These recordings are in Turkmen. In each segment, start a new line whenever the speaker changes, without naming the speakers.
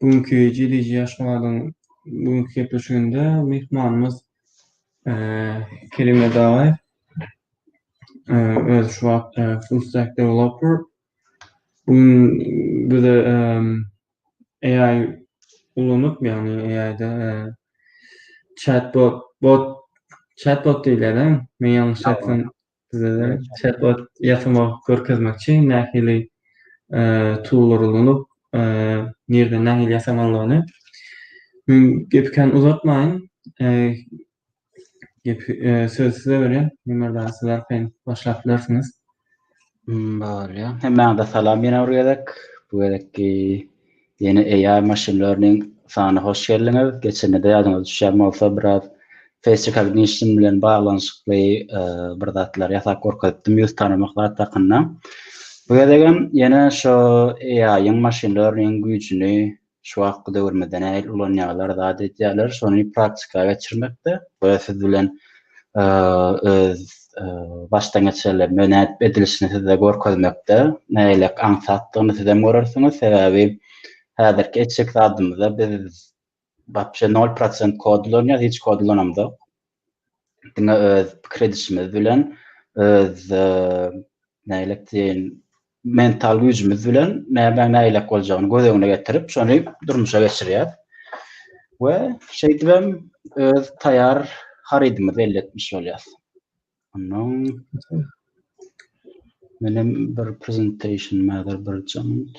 Bugünki Jeleji Aşgabadyň bugünki gepleşiginde myhmanymyz Kerim Edagaýew. Özi şu wagt full stack developer. Bu gün bize AI ulanyp, ýagny AI-da chatbot, bot, chatbot diýilýär-dä, men ýalňyş aýtsam, Sizeden chatbot ýasama görkezmek üçin nähili toollar ulanyp, nirden nähili ýasamalyny. Men gepi kän uzatmaýyn. Gepi söz size berýän. Ömer daýy siz arkaýyn başlap bilersiňiz.
Bolýar. Hemmäňize salam ýene bir gezek. Bu gezekki Ýene AI machine learning sany hoş geldiňiz. Geçenede ýadyňyza düşýän bolsa biraz face recognition bilen baglanyşykly bir zatlar ýasap görkezipdim ýüz tanamak zat hakynda. Bu gezegem ýene şu AI-yň machine learning güýjüni şu wagtky döwrümizde nähili ulanýarlar, zat edýärler, şony praktika geçirmekde we siz bilen öz başdan geçirilen mönädip edilişini size görkezmekde nägilek aňsatdygyny sizem görersiňiz. Sebäbi häzirki etjek zadymyzda biz wapşe nol prosent kod ulanýarys, hiç kod ulanamzok. Diňe öz pikir edişimiz bilen öz nägilek diýen mental güýjümiz bilen nämäň nägilek boljagyny göz öňüne getirip, şony durmuşa geçirýäris we şeýdibem öz taýýar harydymyzy elde etmiş bolýarys. Ondan menem bir presentation mäzir bir jant.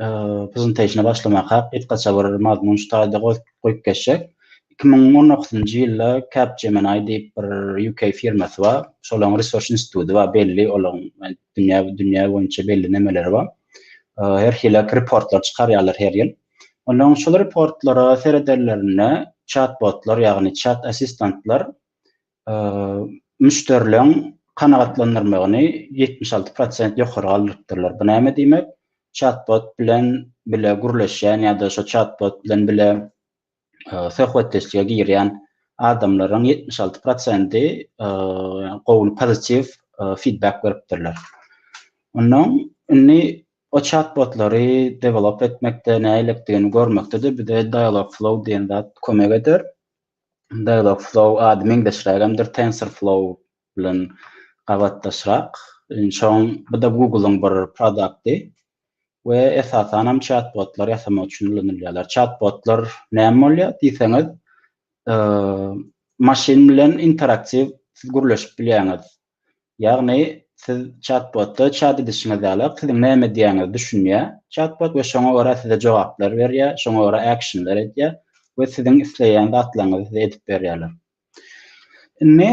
Prezentasiýa başlamaka gysgaça bir mazmun şu taýda goýup geçjek. Iki müň on dokuzynjy ýylda Capgemini diýip bir UK firmasy bar. Şolaryň research instituty bar belli olaryň dünýä dünýä boýunça belli nemeleri bar. Her hili reportlar çykarýarlar her ýyl. Olaryň şol reportlara seredenlerinde çat-botlar ýagny çat assistantlar müşderileriň kanagatlandyrmagyny ýetmiş alty prosent ýokary galdyrypdyrlar. Bu näme diýmek? Çat-bot bilen bile gürleşýän ýa-da şo çat-bot bilen bile söhbetdeşlige girýän adamlaryň ýetmiş alty prosenti gowy pozitiw fidbek beripdirler. Onnoň indi o çat-botlary dewelop etmekde nägilikdigini görmekde-de bize Dialogflow diýen zat kömek eder. Dialogflow ady meňzeşrägemdir TensorFlow bilen gabatdaşrak. Şoň bu-da Google-yň bir produkty we esasanam çat-botlar ýasamak üçin ulanylýarlar. Çat-botlar näme bolýar diýseňiz, maşyn bilen interaktiw siz gürleşip bilýäňiz. Ýagny, siz çat-bota çat edişiňiz ýaly, siziň näme diýýäniňizi düşünýär çat-bot we şoňa görä size jogaplar berýär, şoňa görä äkşinler edýär we siziň isleýän zatlaryňyzy size edip berýärler. Indi,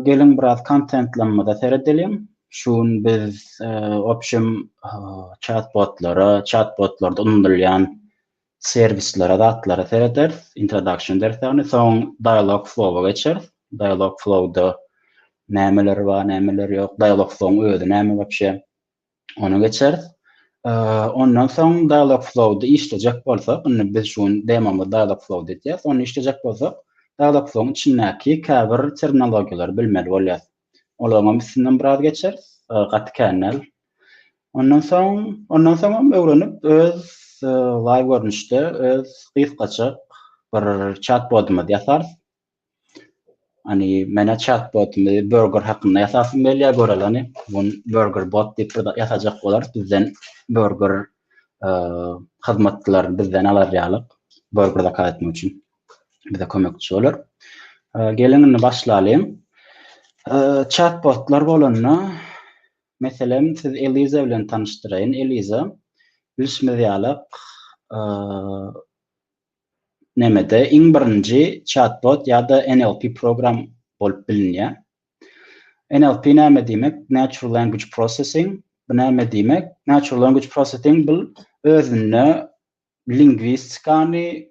geliň biraz kontentlamada seredeliň. Şu gün biz opşem çat-botlara, çat-botlarda unudylýan Servislere, zatlara serederis, introduction deris ýagny. Soň dialog flow-a geçeris. Dialog flow-da nämeler bar, nämeler ýok, dialog flow-yň özi näme wapşe, ony geçeris. Ondan soň dialog flow-da işlejek bolsak, indi biz şu gün demomyz dialog flow-da etýäs, ony işlejek bolsak, dialog flow-yň içindäki käbir terminologiýalary bilmeli bolýarys. Olaryňam üstünden biraz geçeris. Gaty kän däl. Ondan soň, ondan soňam öwrenip öz live görnüşde öz gysgajyk bir chatbotymyzy ýasarys. Hani mene chatbotymy burger hakynda ýasasym gelýär göreleni. Bun burger bot diýip bir ýasajak bolarys. Bizden burger hyzmatlaryny bizden alar ýaly burger zakaz etmek üçin. bize kömekçi bolar. Geliň indi başlalyň. Chatbotlar bolanda, meselem, siz Eliza bilen tanyşdyraýyn. Eliza, bilşimiz ýaly, nemede iň birinji chatbot ýa-da NLP program bolup bilinýär. NLP näme diýmek? Natural Language Processing. Bu näme diýmek? Natural Language Processing bu özünde lingwistikany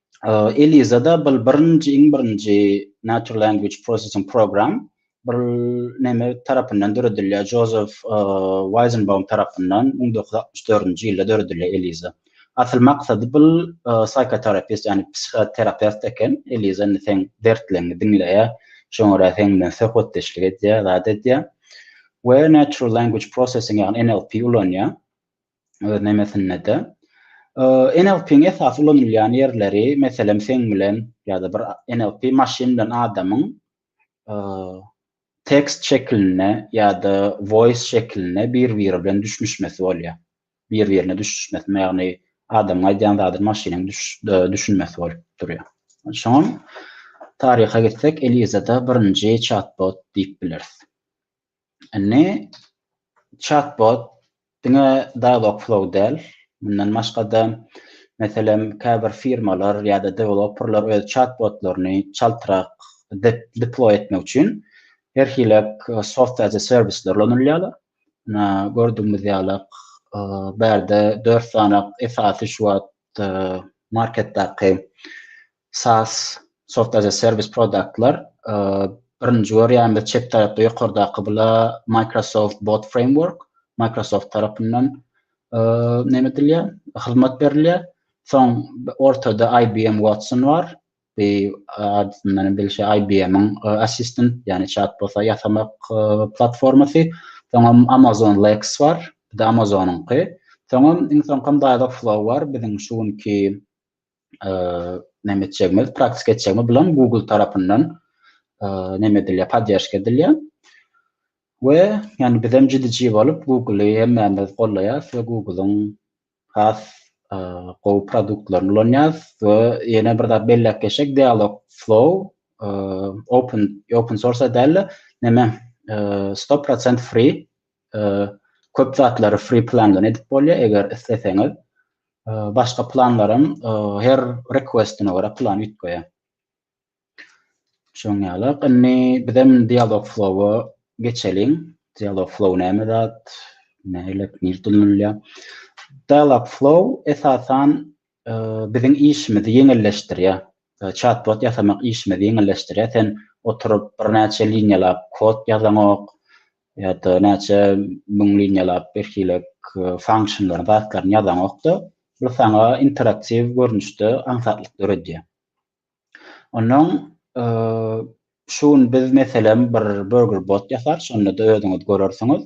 Eliza-da bil birinji iň birinji Natural Language Processing Program bil neme tarapyndan döredilýär, Jozef Weýzenbaum tarapyndan müň dokuz ýüz altmyş dördünji ýylda döredilýär Eliza. Asyl maksady bil psihoterapeut ýagny psihoterapeut eken, Eliza indi seň dertleňňi diňleýär, şoňa görä seň bilen söhbetdeşlik edýär, zat edýär we Natural Language Processing ýagny NLP ulanýar. öz nemesinde-de. NLP-iň esasy ulanylýan ýerleri, meselem, seň bilen ýa-da bir NLP maşyn bilen adamyň tekst şekilinde ýa-da voice şekilinde bir-biri bilen düşnüşmesi bolýar. Bir-birine düşnüşmesi, ýagny adamyň aýdýan zadyny maşynyň düşünmesi bolup durýar. Şoňa taryha gitsek, Eliza-da birinji chatbot diýip bileris. Indi chatbot diňe Dialogflow däl, mundan başga-da, meselem, käbir firmalar ýa-da deweloperler öz chatbotlaryny çaltrak deploý etmek üçin her hili soft as a service ulanylýarlar. Ine, gördügimiz ýaly, bärde dört sany esasy şu wagt marketdäki SaaS, Software as a Service, produktlar birinji görýänimiz çep tarapda ýokardaky bula Microsoft Bot Framework, Microsoft tarapyndan näme edilýär, hyzmat berilýär. Soň ortada IBM Watson bar. Bu adyndan bilşi IBM-iň assistant, ýagny chatbota ýasamak platformasy. Soňam Amazon Lex bar. Bu da Amazon-yňky. Soňam iň soňkam Dialogflow bar, biziň şu günki näme etjegimiz, praktik etjegimiz bilen Google tarapyndan näme edilýär, podýaşka edilýär. We ýani bizem jidiji bolup Google-y hemmämiz gollaýas we Google-yň has gowy produktlaryny ulanýas we ýene bir zat belläp geçsek Dialog Flow open open source däl-de näme 100% free Köp zatlary free plandan edip bolýar eger isleseňiz. Başga planlaram her requestine görä plan üýtgeýär. Şoň ýaly. Indi bizem dialog flow-a geçeliň. Dialog flow näme zat? Nähili nirde ulanylýar? Dialog flow esasan biziň işimizi ýeňilleşdirýär. Çat-bot ýasamak işimizi ýeňilleşdirýär. Sen oturyp birnäçe liniýalap kod ýazaňok ýa-da näçe müň liniýalap birhilek funksiýonlaryň zatlaryny ýazaňok-da, bu saňa interaktiw görnüşde aňsatlyk döredýär. Ondan şu gün biz meselem bir burger bot ýasar, şonda-da özüňiz görersiňiz.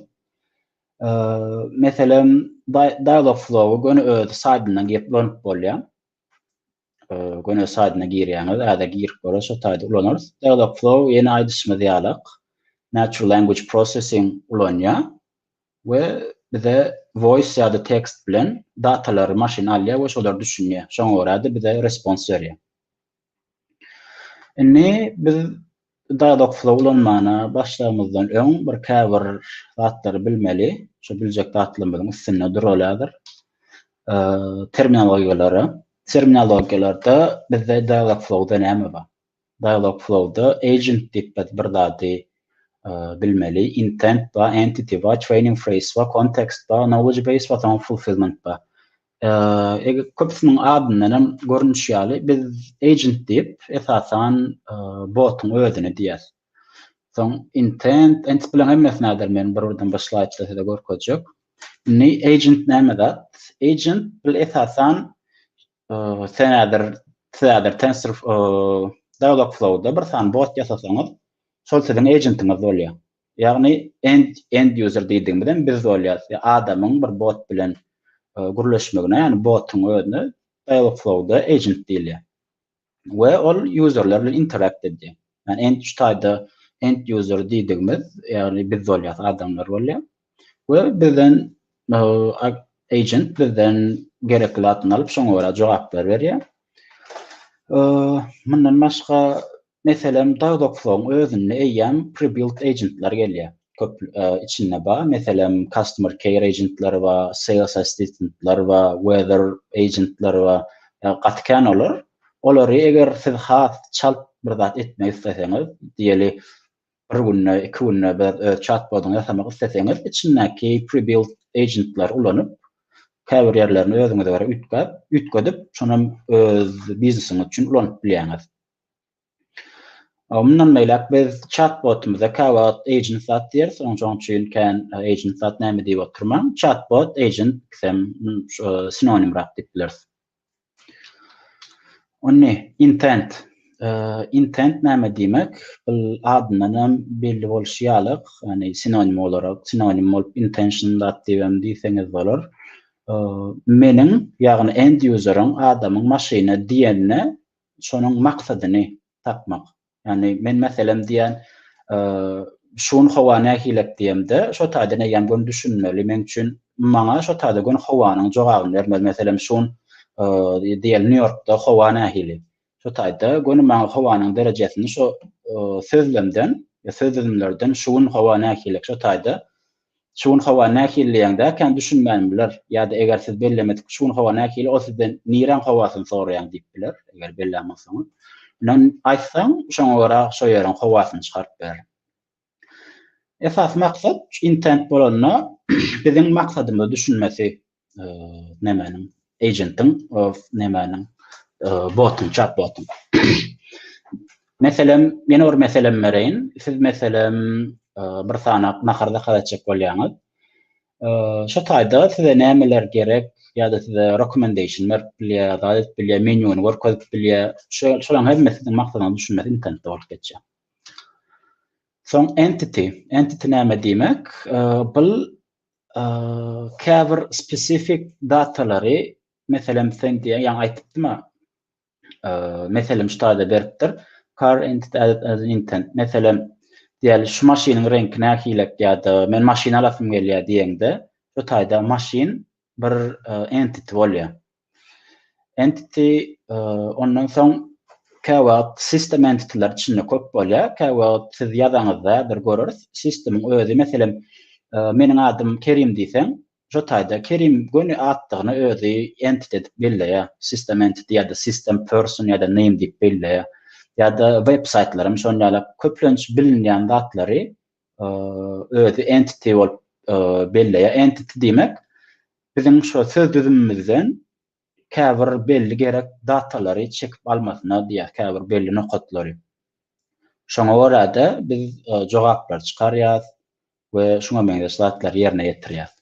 Meselem, Dialogflow-y göni öz saýdyndan girip ulanyp bolýar. Göni öz saýdyna girýäňiz, häzir girip görüň, şo saýdy ulanarys. Dialogflow ýene aýdyşymyz ýalak, Natural Language Processing ulanýar. we bize voice ýa-da tekst bilen datalary maşyn alýar we şolar düşünýär. Şoňa görä-de bize respons berýär. Indi biz Dialogflow ulanmana başlamazdan öň bir käbir zatlary bilmeli. Şu biljek zatlarymyzyň üstünde duraly häzir. Terminologiýalary. Terminologiýalarda bizde Dialogflow-da näme bar? Dialogflow-da agent diýip biz bir zady bilmeli, intent bar, entity bar, training phrase bar, context bar, knowledge base bar, soň fulfillment bar. Eger köpüsiniň adyndan hem görnüşi ýaly biz agent diýip esasan botuň özüne diýýäs. Soň intent, entity bilen hemmesi näder men bir birden bir slaýdda size görkezjek. Indi agent näme zat? Agent bil esasan Senädir, sizädir Tensor Dialogflow-da bir sany bot ýasasaňyz, şol siziň ejentiňiz bolýar. Ýagny end user diýdigimizem biz bolýarys. Adamyň bir bot bilen gürleşmegine, ýagny botuň özüne Dialogflow-da agent diýilýär. we ol userler bilen interact edýär. Yani end şu taýda end user diýdigimiz, ýagny biz bolýar, adamlar bolýar we bizden agent bizden gerekli zatny alyp, şoňa görä jogaplar berýär. Mundan başga meselem Dagdoksoň özünde eýýäm prebuilt agentler gelýär. köp içinde bar. Meselem, customer care agentleri bar, sales assistentler bar, weather agentler bar. Ýa gaty kän olar. Olary eger siz has çalt bir zat etmek isleseňiz, diýeli bir günde, iki günde bir öz çat-bodyňy ýasamak isleseňiz, içindäki pre-built agentleri ulanyp, käbir ýerlerini özüňize görä üýtgäp, üýtgedip, şonam öz biznesiňiz üçin ulanyp bilýäňiz. Mundan beýläk biz chatbotymyza käwagt agent zat diýeris, onsoň üçin kän agent zat näme diýip oturmaň, chatbot, agent ikisem sinonimrak diýip bileris. Indi intent. Intent näme diýmek? Bul adyndan hem belli bolşy ýaly, ýagny sinonim bolarok, sinonim bolup intention zat diýip hem diýseňiz bolar. Meniň, ýagny end-ýuzeriň, adamyň maşyny diýende şonuň maksadyny tapmak. Ýagny men meselem diýýän, şu gün howa nähilek diýemde, şo taýdan eýýäm gün düşünmeli. Meň üçin maňa şo taýda gün howanyň jogabyny bermeli. Meselem, şu gün diýeli Nýu-Ýorkda howa nähili? Şo taýda gün maňa howanyň derejesini şo sözlemden, söz düzümlerden şu gün howa nähilek şo taýda Şu gün howa nähili diýeňde, kän düşünmänim biler. Ýa-da eger siz bellemedik şu gün howa nähili, ol sizden niräň howasyny soraýaň diýip biler, eger bellän bolsaňyz. Ynam, aýtsaň, şoňa görä şo ýeriň howasyny çykaryp bilerin. Esasy maksat, intent bolanda, biziň maksadymyzy düşünmesi. nemäniň agentiň nemäniň botuň çat botuň meselem ýene bir meselem bereýin siz meselem bir sanaw nahar zakaz etjek bolýaňyz şu taýda size nämeler gerek ýa-da size recommendation berip bilýär zat edip bilýär menýuny görkezip bilýär şolaryň hemmesi siziň maksadyňyzy düşünmesi internetde bolup geçýär soň entity entity näme diýmek bu käbir spesifik datalary, meselem, sen diýen, ýaňy aýtdypdyma, meselem, şu taýda beripdir, car intent added as an intent, meselem, diýeli, şu maşynyň reňki nähilek ýa-da men maşyn alasym gelýär diýeňde, şu taýda maşyn bir entity bolýar. Entity ondan soň käwagt system entityler içinde köp bolýar. Käwagt siz ýazaňyzda bir göreris. Sistemiň özi meselem meniň adym Kerim diýseň, şo taýda Kerim göni atdygyny özi entity edip belleýär. System entity ýa-da system person ýa-da name diýip belleýär. Ýa-da web saýtlaram şon ýaly köplenç bilinýän zatlary özi entity bolup belleýär. Entity diýmek biziň şu söz düzümimizden käbir belli gerek datalary çekip almasyna diýýär, käbir belli nokatlary. Şoňa görä-de biz jogaplary çykarýas we şuňa meňzeş zatlary ýerine ýetirýäs.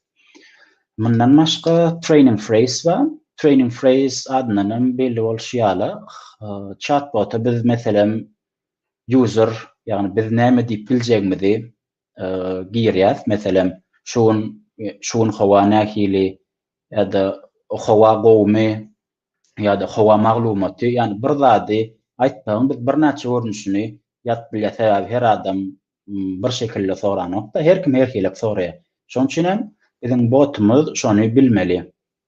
Mundan başga training phrase bar. Training phrase adyndan hem belli bolşy ýaly, chatbota biz meselem user, ýagny biz näme diýip biljegimizi girýäs, meselem, şu gün şu gün howa nähili ýa-da howa gowumy ýa-da howa maglumaty, ýagny bir zady aýtsaň biz birnäçe görnüşini ýazyp bilýäs, sebäbi her adam bir şekilde soranokda, her kim herhilek soraýar. Şonuň üçin hem biziň botumyz şony bilmeli.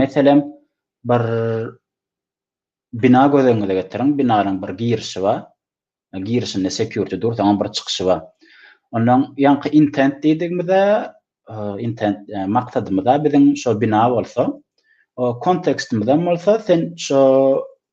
Meselem, bir bina göz öňüňize getiriň, binanyň bir girişi bar, girişinde security dur, soňam bir çykyşy bar. Ondan ýaňky intent diýdigimizde, intent maksadymyz-a biziň şo bina bolsa, o kontekstimiz hem bolsa, sen şo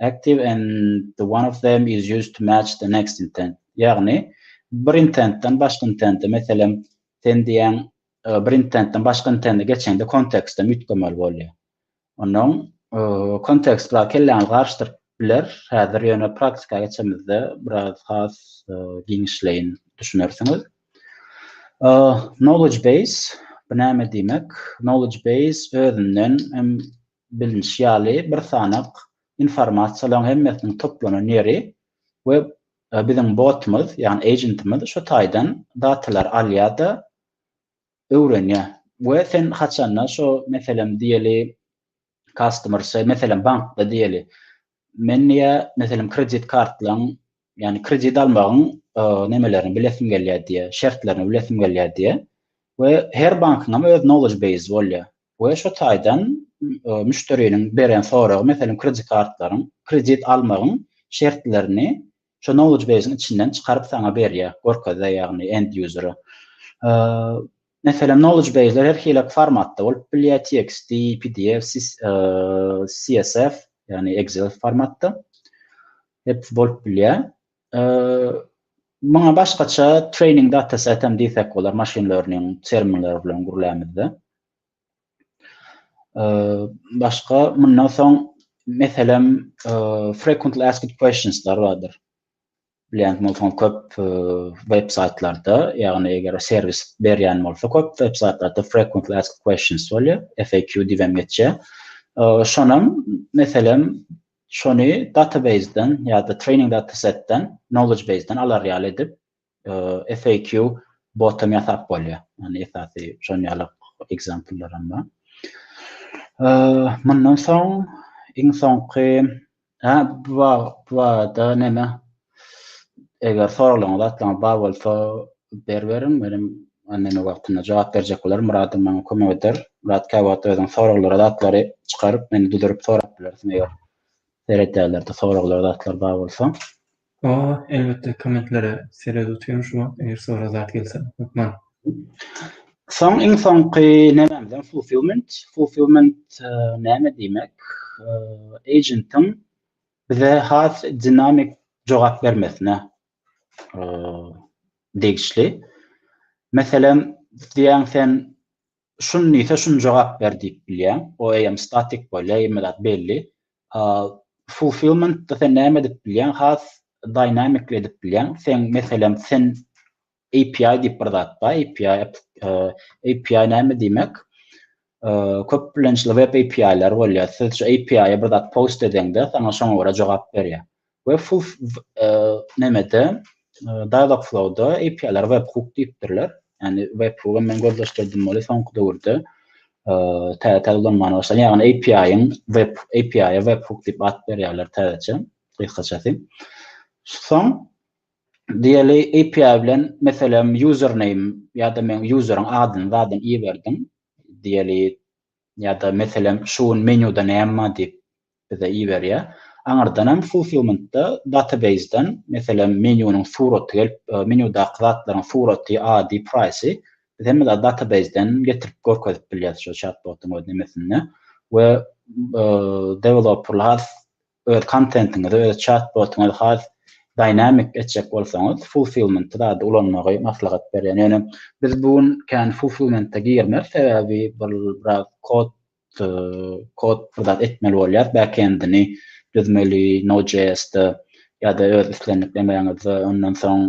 Active and the one of them is used to match the next intent. Ýagny, bir intentden başga intente, meselem, sen diýýäň, bir intentden başga intente geçeňde kontekstden üýtgemeli bolýar. Onnoň kontekst bilen kelläňizi garyşdyryp biler. Häzir ýöne praktika geçemizde biraz has giňişleýin düşünersiňiz. Knowledge base, bu näme diýmek? Knowledge base özünden hem Bilnişi ýaly, bir sanak informasiýalaryň hemmesiniň toplanan ýeri we biziň botumyz, ýagny ejentimiz şu taýdan datalary alýar-da, öwrenýär. We sen haçanda şo, meselem, diýeli, customer say, meselem, bankda diýeli, Men diýýär, meselem, kredit kartlaryň, ýagny kredit almagyň nemelerini bilesim gelýär diýýär, şertlerini bilesim gelýär diýýär we her bankyň hem öz knowledge base bolýar we şu taýdan müşderiniň beren soragy, meselem, kredit kartlaryň, kredit almagyň şertlerini Şu knowledge base-iň içinden çykaryp saňa berýär, görkezýär ýagny end user-a. Meselem knowledge base-ler her hili formatda bolup bilýär, txt, pdf, csv, ýagny excel formatda. Hepsi bolup bilýär. Muňa başgaça training dataset hem diýsek bolar, machine learning terminleri bilen gürlämizde. Başga mundan soň meselem frequently asked questions lar bardyr. Bilýän bolsaňyz köp web saýtlarda, ýagny eger serwis berýän bolsa köp web saýtlarda frequently asked questions bolýar, FAQ diýip hem geçýär. Şonam meselem şony database-den ýa-da training dataset-den, knowledge base-den alar ýaly edip FAQ bot hem ýasap bolýar. Ýani esasy şon ýaly ekzempler hem bar. Mundan soň iň soňky ha bu barada näme eger soraglaryňyz atlaryňyz bar bolsa ber beriň menem näme wagtynda jogap berjek bolaryn Myradym maňa kömek eder Myrad kä wagt özüň soraglara zatlary çykaryp meni düzürip sorap bilersiň eger seredýärlerde soraglara zatlar bar bolsa Hawa
elbetde kommentlere sered otyryn şu wagt eger sorag zat gelse hökman.
Soň iň soňky nämämizem fulfillment fulfillment näme diýmek agentiň bize has dinamik jogap bermesine degişli meselem diýýäň sen Şuny diýse şuny jogap ber diýip bilýäň. O eýýäm statik bolýar, hemme zat belli. Fulfillment-de sen näme edip bilýäň? Has dynamicly edip bilýäň. Sen, meselem, sen API diýip bir zat bar. API, API näme diýmek? Köp bilençli web API-ler bolýar. Siz şu API-ä bir zat post edeňde, saňa şoňa görä jogap berýär. Webflow nämede? Dialogflow-da API-lara webhook diýipdirler. Ýagny webhook hem men gözleşdirdim weli soňky döwürde täze-täze ulanmana başlandy. Ýagny API-iň web API-a webhook diýip at berýärler täzeçe, gysgaçasy. Soň diýeli API bilen meselem username ýa-da men useriň adyny zadam iberdim. Diýeli ýa-da meselem şu gün menýuda näme bar diýip bize iberýär. Aňyrdanam fulfillment-da database-den meselem menýunyň suraty gelip, menýudaky zatlaryň suraty, ady, praýsy biz hemme database-den getirip görkezip bilýäris şu çat-botuň öz nemesinde we dewelopperlar öz kontentiňizi, öz çat-botyňyzy has dynamic etjek bolsaňyz, fulfillment zady ulanmagy maslahat berýän. Ýöne biz bu gün kän fulfillment-e girmez, sebäbi bir biraz kod kod bir zat etmeli bolýar, back-end-ini düzmeli Node.js-de ýa-da öz islendik emegiňizde, ondan soň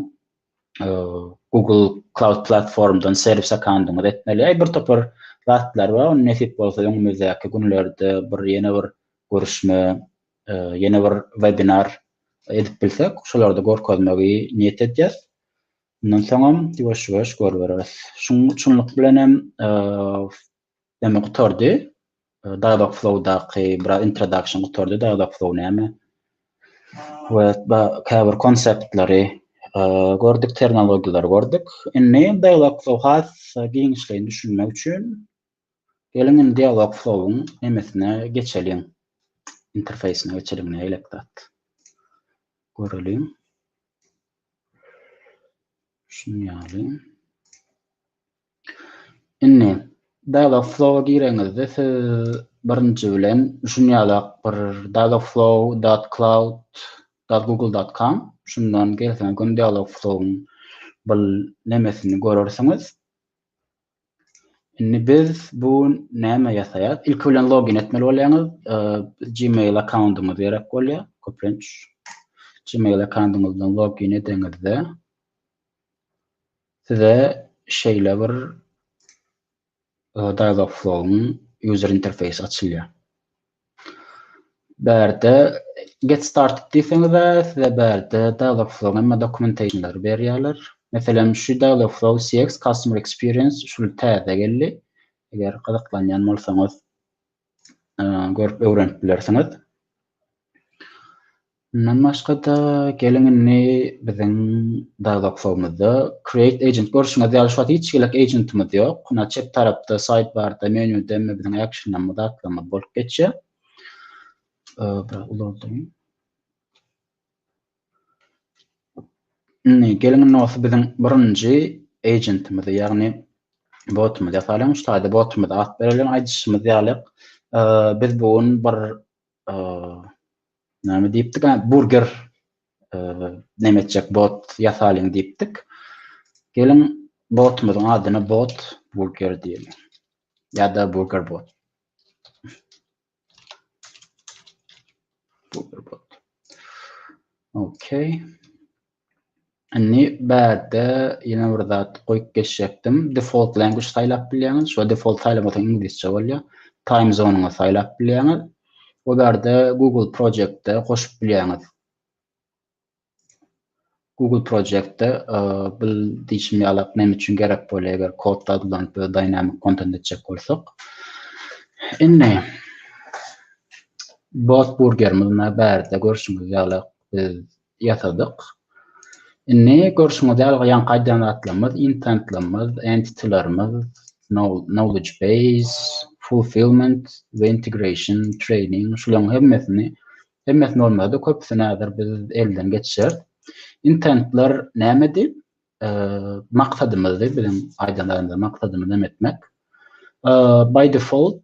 Google Cloud platformdan serwis akandyňyz etmeli. Ýa bir topar zatlar bar. Ony nesip bolsa öňümizdäki günlerde bir ýene bir görüşme, ýene bir webinar edip bilsek, şolarda görkezmegi niýet edýäs. Mundan soňam ýuwaş-ýuwaş görübereris. Şunuň üçinlik bilen hem Näme gutardy? Dagdag flow daky biraz introdaction gutardy. Dagdag flow näme? We käbir konseptleri gördük, terminologiýalary gördük. Indi dagdag flow has giňişleýin düşünmek üçin geliň indi dagdag flow-yň nemesine geçeliň. Interfeýsine geçeliň nägilek zat. Göreliň. Şuny ýaly. Indi, Dialogflow-a gireňizde, siz birinji bilen şuny ýalak bir Dialogflow dot cloud dot google dot com şundan gelseňiz göni Dialogflow-yň bir nemesini görersiňiz. Indi biz bu näme ýasaýas? Ilki bilen login etmeli bolýaňyz. Gmail akkauntyňyz gerek bolýar. Köplenç Gmail akkauntyňyzdan login edeňizde Size şeýle bir Dialogflow-yň user interface açylýar. Bärde Get started diýseňiz-ä, size bärde Dialogflow-yň hemme dokumentationlary berýärler. Meselem, şu Dialogflow CX Customer Experience şul täze geldi. Eger gyzyklanýan bolsaňyz, görüp öwrenip bilersiňiz. Mundan başga-da, geliň indi biziň dazoksowmuzda Create Agent. Görşüňiz ýaly, şu wagt hiç hili agentimiz ýok. Ynha, çep tarapda Sidebar-da, menýuda indi biziň actionlarymyz, zatlarymyz bolup geçýär. Biraz ulaldyň. Indi, geliň indi bolsa biziň birinji agentimizi, ýagny botymyzy ýasalyň. Şu taýda botymyza at bereliň. Aýdyşymyz ýaly, biz bu gün bir Näme diýipdik? Hä, burger näme etjek bot ýasalyň diýipdik. Geliň botumyzyň adyny bot burger diýelim. Ýa-da burger bot. Burger bot. Okay. Indi bärde ýene bir zat goýup geçjekdim. Default language saýlap bilýäňiz. Şo default saýlamasaň iňlisçe bolýar. Time zone-yňy saýlap bilýäňiz. Bu bärde Google Project-de goşup bilýäňiz. Google Project-de bu diýşim ýalak näme üçin gerek bolýar eger kodda adyllanyp we dynamic content etjek bolsak. Indi bot burger munda bärde görşüňiz ýalak biz ýasadyk. Indi görşüňiz ýaly ýaňky aýdýan zatlarymyz, intentlerimiz, entitilerimiz, knowledge base, fulfillment we integration, training, şularyň hemmesini, hemmesini bolmasa-da köpüsini häzir biz elden geçireris. Intentler nämedi? Maksadymyzdy, biziň aýdan zatymyz, maksadymyz näme etmek? By default,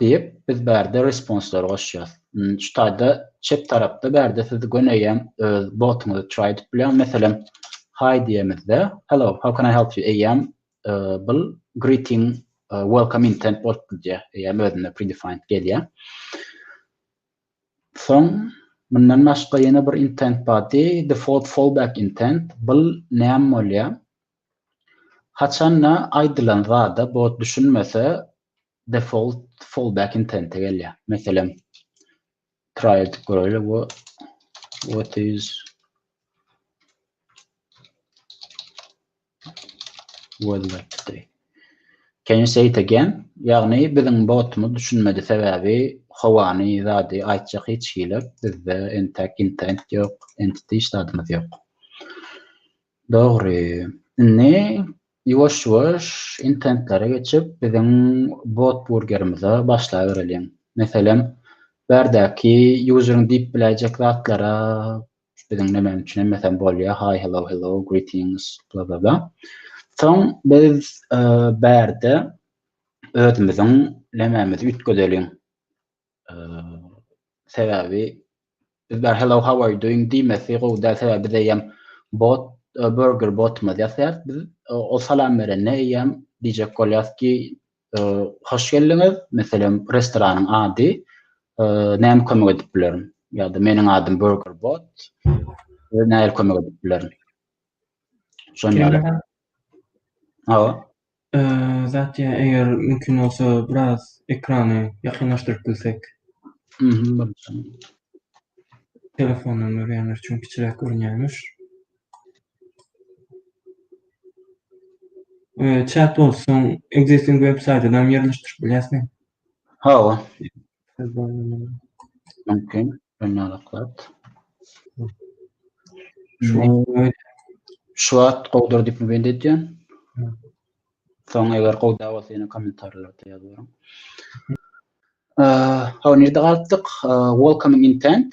Diýip, biz bärde responslar goşýas. Şu taýda çep tarapda bärde siz göneýem öz botuňyzy try edip bilýäň. Meselem, Hi diýemizde, Hello, how can I help you? Eýýäm bul greeting welcome intent bolup gidýär. Eýýäm özünde predefined gelýär. Soň mundan başga ýene bir intent body, default fallback intent. Bul näme bolýar? Haçanda aýdylan zada bot düşünmese, default fallback intente gelýär. Meselem, try edip göräýeli we what is weather today? Can you say it again? Ýagny biziň botumyz düşünmedi sebäbi howany zady aýtjak hiç hili bizde entek intent ýok, entity hiç zadymyz ýok. Dogry. Indi Ýuwaş-ýuwaş intentlere geçip, biziň botburgerimize başlabereliň. Meselem, bärdäki ýuzeriň diýip biläýjek zatlara biziň nämäniň üçin emmesem bolýar, Hi, Hello, Hello, Greetings, bla-bla-bla. Soň biz bärde özümiziň nämämizi üýtgedeliň. Sebäbi biz bar hello how are you doing diýmesi gowy däl sebäbi biz eýýäm bot e, burger botumyz ýasaýarys biz e, o salam berende eýýäm diýjek bolýarys ki e, hoş geldiňiz meselem restoranyň ady näme kömek edip bilerin ýa-da meniň adym burger bot we näme kömek edip bilerin şonuň ýaly hawa
Satya eger mümkin bolsa biraz ekrany ýakynlaşdyryp bilsek. Telefondan görýänler üçin kiçiräk görünýärmiş. Chat bolsun, existing website-den ýerleşdirip bilýäsmi? Hawa.
Mümkin, öňňalaklat. Şu wagt gowdur diýip bend edýän. Soň eger gowy da bolsa ýene kommentarlarda ýazaryň. Hawa, nirde galypdyk? Welcoming intent.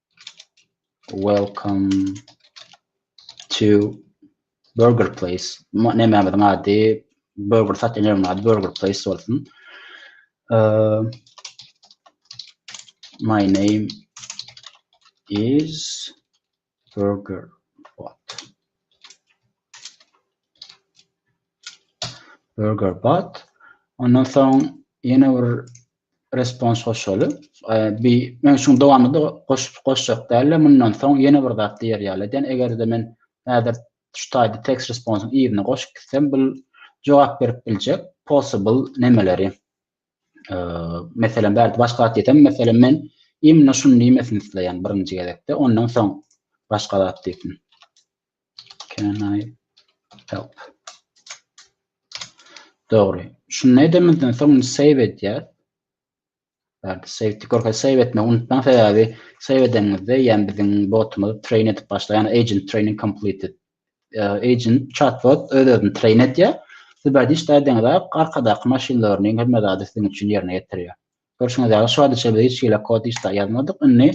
Welcome to Burger Place. Nämämiň ady? Burger satýan ýeriň ady Burger Place bolsun. Uh, my name is Burger Bot. Burger Bot. Ondan soň ýene bir Respons goşaly. Bi men şuň dowamyny goşup goşjak däldim. Mundan soň ýene bir zat diýer ýaly eden. Eger-de men häzir şu taýda text responsyň yzyny goşup gitsem, bu jogap berip biljek possible nemeleri. Meselem, bärde başga zat diýsem, meselem, men imенно şuny diýmesini isleýän birinji gezekde, ondan soň başga zat diýsin. Can I help? Dogry. Şunu edemizden soň save edýär. Bärde save tikorka save etme unutmaň sebäbi save edenimizde ýani biziň botumyz train edip başlaýan agent training completed. E, agent chatbot öz özüni train edýär. Siz bärde işlädiňiz arkadaky machine learning hemme zady siziň üçin ýerine ýetirýär. Görşüňiz ýaly şu adyça biz hiç hili kod işlä ýazmadyk. Indi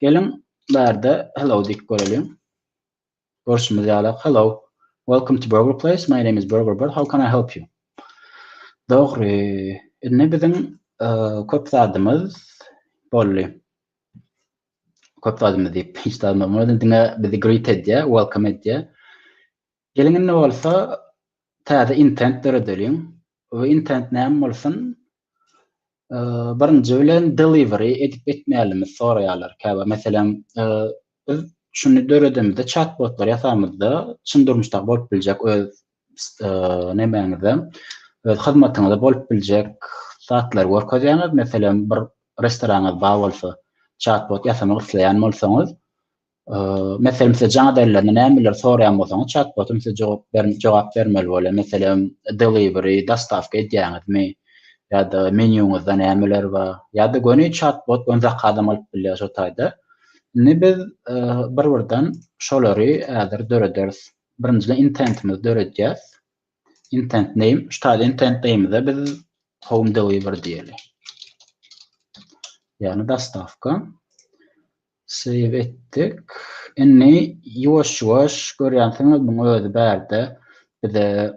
geliň bärde hello diýip göreliň. Görşümiz ýaly Hello Welcome to Burger Place My name is Burger Bird How can I help you? Dogry. Indi biziň köp zadymyz boldy. Köp zadymyz diýip hiç zat bolmady. Diňe bizi greet edýär, welcome edýär. Geliň indi bolsa täze intent döredeliň we intent näme bolsun? Birinji bilen delivery edip etmälimiz soraýarlar käbir meselem biz şuny döredemizde çat botlar ýasamyzda çyn durmuşdaky bolup biljek öz nemäňize öz hyzmatyňyza bolup biljek zatlary görkezýäňiz meselem bir restoranyňyz bar bolsa çat bot ýasamak isleýän bolsaňyz Meselem, size jaň ederlerinde nämeleri soraýan bolsaňyz, çat-botum size jogap ber jogap bermeli bolýar. Meselem, delivery, dostawka edýäňizmi? Ýa-da menýuňyzda nämeler bar? Ýa-da göni çat-bot göni zakazam alyp bilýär şo taýda. Indi biz bir-birden şolary häzir dörederis. Birinjiden intentimizi döredýäs. Intent name, şu taýda intent name-de biz home delivery diýeli. Ýagny dostawka. Save etdik. Indi ýuwaş ýuwaş görýänsiňiz muň özi bärde bize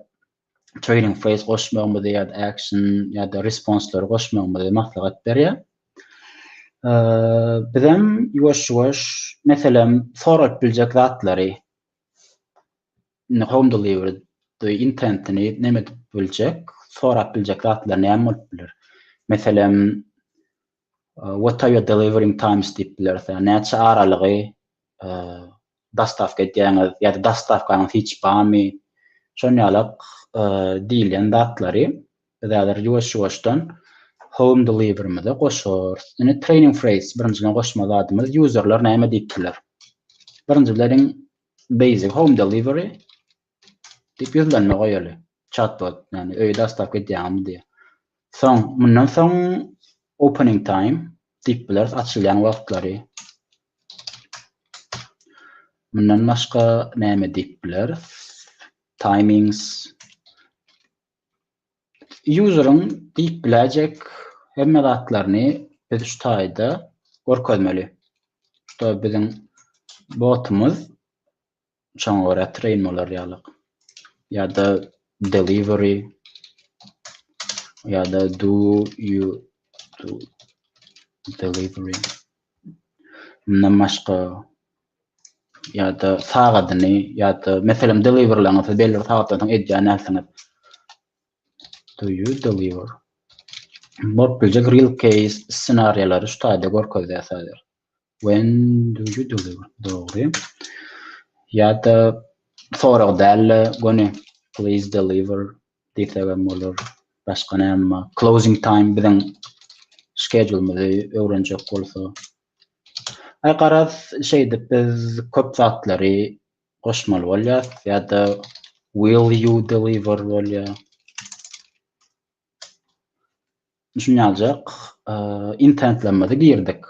trading phrase goşmagymyzy ýada action ýada responslary goşmagymyzy maslahat berýä. Bizem ýuwaş ýuwaş meselem sorap biljek zatlary home delivery intentini neme edip biljek sorap biljek zatlar näme bolup biler. Meselem What are your delivering times diýip bileris. Ýagny näçe aralygy dostawka edýäňiz ýa-da dostawkaňyz hiç barmy? Şon ýalak diýilýän zatlary biz häzir ýuwaş-ýuwaşdan home deliverymize goşarys. Indi training phrase birinjiden goşmaly zadymyz userler näme diýipdirler. Birinjileriň basic home delivery Diýip ýüzlenme goýaly. Chatbot, ýagny öýe daşlap gidýäňmi diýýär. Soň, mundan soň opening time diýip bileris, açylýan wagtlary. Mundan başga näme diýip bileris? Timings. Useryň diýip biläýjek hemme zatlaryny biz şu taýda görkezmeli. Şuda biziň botumyz Şoňa görä train bolar ýalyk. Ýa-da delivery ýa-da do you do delivery. Mundan başga ýa-da sagadyny ýa-da meselem deliverlaňyz siz belli bir sagatdan soň edýän närseniz. Do you deliver? Bolup biljek real case ssenariýalary şu taýda görkezýär sadece. When do you deliver? Dogry. Ýa-da sorag däl-de, göni please deliver diýsegem bolar. Başga näme bar? Closing time biziň skedulymyzy öwrenjek bolsa. Aý garaz, şeýdip biz köp zatlary goşmaly bolýar. Ýa-da will you deliver bolýar. Düşünýän aljak. Internetlerimizi girdik.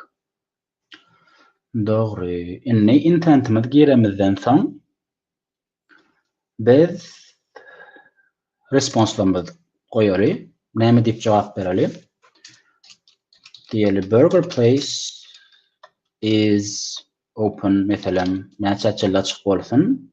Dogry. Indi internetimizi giremizden soň biz responslarymyzy goýaly. Näme diýip jogap bereli? Diýeli burger place is open meselem näçe çelle açyk bolsun?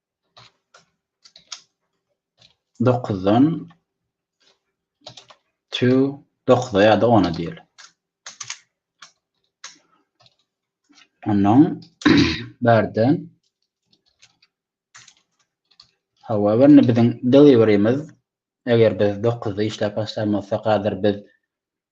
Dokuzdan to dokuza ýa-da ona diýeli. Ondan bärden However, ne biziň deliverymiz, eger biz 9-da işläp başlaýan bolsak, häzir biz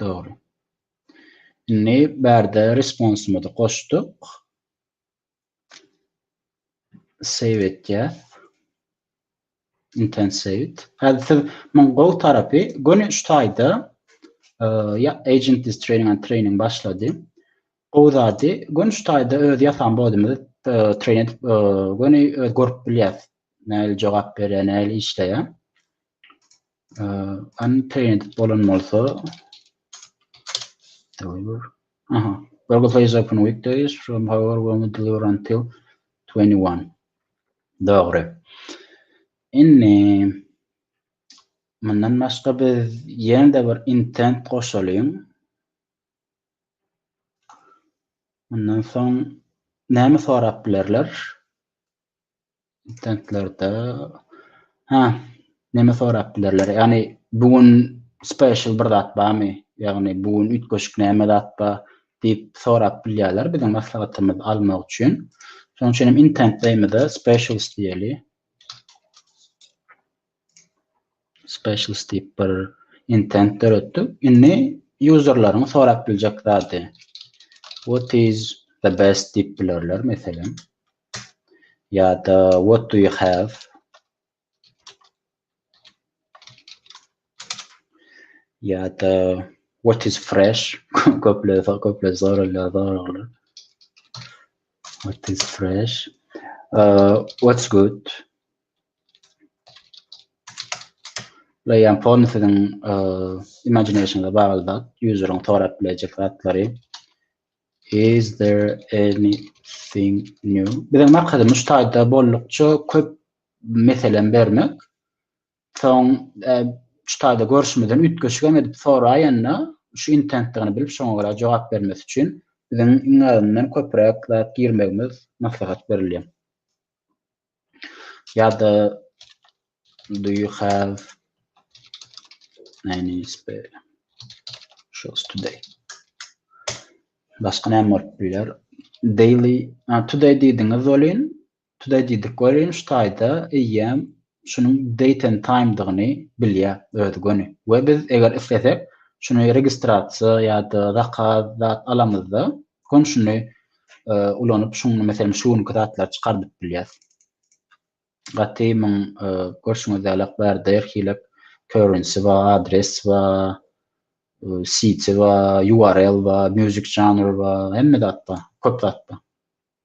Dogry. Indi bärde responsymyzy goşduk. Save etýäs. Intensivit. Häzir siz muň gowy tarapy göni üç taýda ya agent is training and training başlady. Gowy zady göni üç taýda öz ýasan bodymyzy train edip göni görüp bilýäs. Näli jogap berýär, näli işleýär. unpainted bolan bolsa deliver aha Google Play is open weekdays from however we only deliver until 21 dogry inni mundan başga biz ýene-de bir intent goşalyň mundan soň näme sorap bilerler Tentlerde ha näme sorap bilerler? Ýagny bu gün special bir zat barmy? Ýagny bu gün üýtgeşik näme zat bar? diýip sorap bilýärler biziň maslahatymyzy almak üçin. Şonuň üçin hem intentleýimize specials diýeli. Specials diýip bir intent döretdik. Indi userlaryň sorap biljek zady. What is the best diýip bilerler meselem. ýa-da What do you have? ýa-da What is fresh? Köpler köpler soralýar soraglar. What is fresh? Uh, what's good? Bula ýan formy siziň uh, imaginationyňyza bagly zat, user'yň sorap biljek zatlary. Is there anything new? Biziň maksadymyz şu taýda bollukça köp meselem bermek. Soň şu taýda görşümizden üýtgeşigem edip soraýanda şu intentdigini bilip şoňa görä jogap bermesi üçin biziň iň azyndan köpräk zat girmegimiz maslahat berilýär. Ýa-da do you have any spare shoes today? Başga näme bolup biler? Daily, a, today diýdiňiz welin, today diýdik welin şu taýda eýýäm şunuň date and time-dygyny bilýär özi göni we biz eger islesek şuny registrasiýa ýa-da zakaz zat alamyzda Funksiýony ulanyp, şuňa meselem şu günki zatlary çykardyp bilýäs. Gaty muň görşüňiz ýaly bärde her hili currency we adres we city we url we music genre we hemme zat bar, köp zat bar.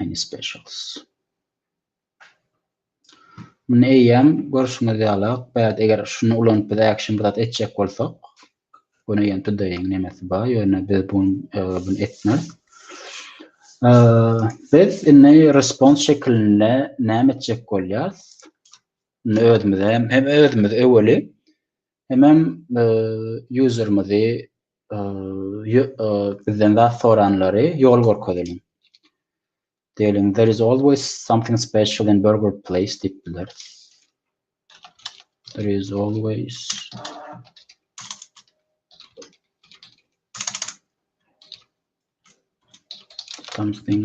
Any specials. Muny eýýäm görşüňiz ýaly, bäd eger şuny ulanyp biz action bir zat etjek bolsak, bunu ýene todayň nemesi bar, ýöne biz bunu e, bunu etmeris. E, biz indi response şekilinde näme etjek bolýarys? Özümize hem özümiz öweli Hemem userimizi bizden zat soranlary ýol görkezeliň. Diýeliň there is always something special in burger place diýip bileris. There is always something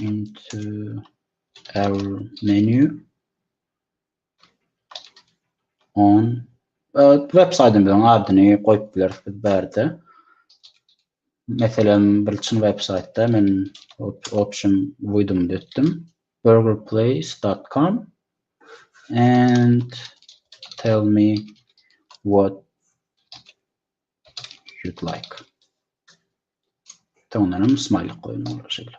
into our menu on web saýtymyzyň adyny goýup bileris biz bärde. Meselem, bir çyn web saýtda men option uydum etdim. burgerplace.com and tell me what you'd like. Soňundan hem smaýlyk goýun olara şeýle.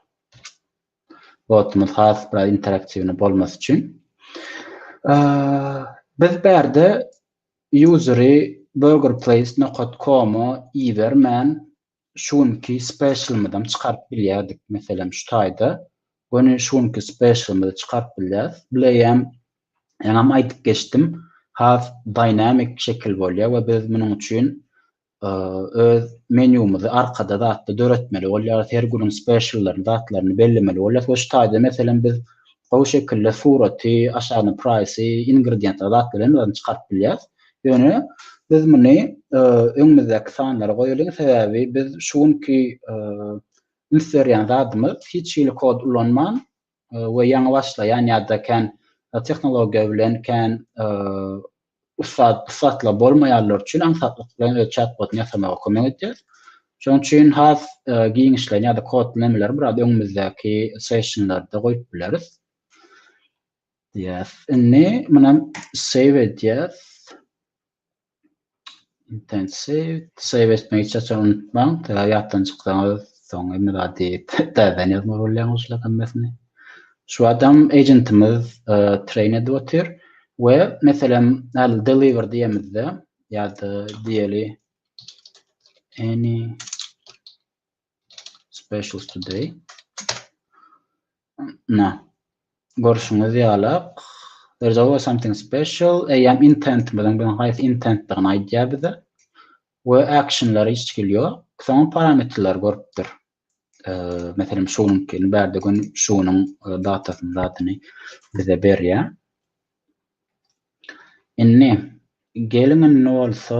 Botumyz has biraz interaktiwny bolmasy üçin. Biz bärde useri burgerplace.com-a ibermän şu günki specialymyzam çykaryp bilýärdik. Meselem şu taýda. Göni şu günki specialymyzy çykaryp bilýäris. Bileýäm, ýaňam aýdyp geçdim. Has dynamik şekil bolýar we biz munuň üçin öz menýumyzy arkada zatda döretmeli bolýarys, her günüň speciallaryny, zatlaryny bellemeli bolýarys we şu taýda, meselem, biz gowy şekilde suraty, aşagyna praýsy, ingredientlary, zatlary hemmesini çykaryp bilýäris. Ýöne biz muny öňümizdäki sanlara goýalyň, sebäbi biz şu günki üns berýän zadymyz hiç hili kod ulanman we ýaňy başlaýan ýa-da kän tehnologiýa bilen kän ussat ussatlar bolmaýanlar üçin aňsatlyk bilen öz çat-botyny ýasamaga kömek edýär. Şonuň üçin has giňişleýin ýa-da kodlamalary biraz öňümizdäki sessionlarda goýup bileris. Diýýäs. Indi muny save edýäs. Intensiv save etmek hiç haçan unutmaň. Eger ýatdan çyksaňyz, soň hemme zady täzeden ýazmaly bolýaňyz şular hemmesini. Şu adam agentimiz e, train edip otyr we meselem al deliver diýemizde ýa-da diýeli any Specials today. Na. Görüşüňiz ýalak. There's always something special. Eýýäm intent bilen bilen haýsy intentdigini aýdýar bize. We actionlary hiç hili ýok. Soň parametrleri görüpdir. E, meselem şunuňkyny bärde gün şunuň e, datasyny zatyny bize berýär. Indi gelin indi bolsa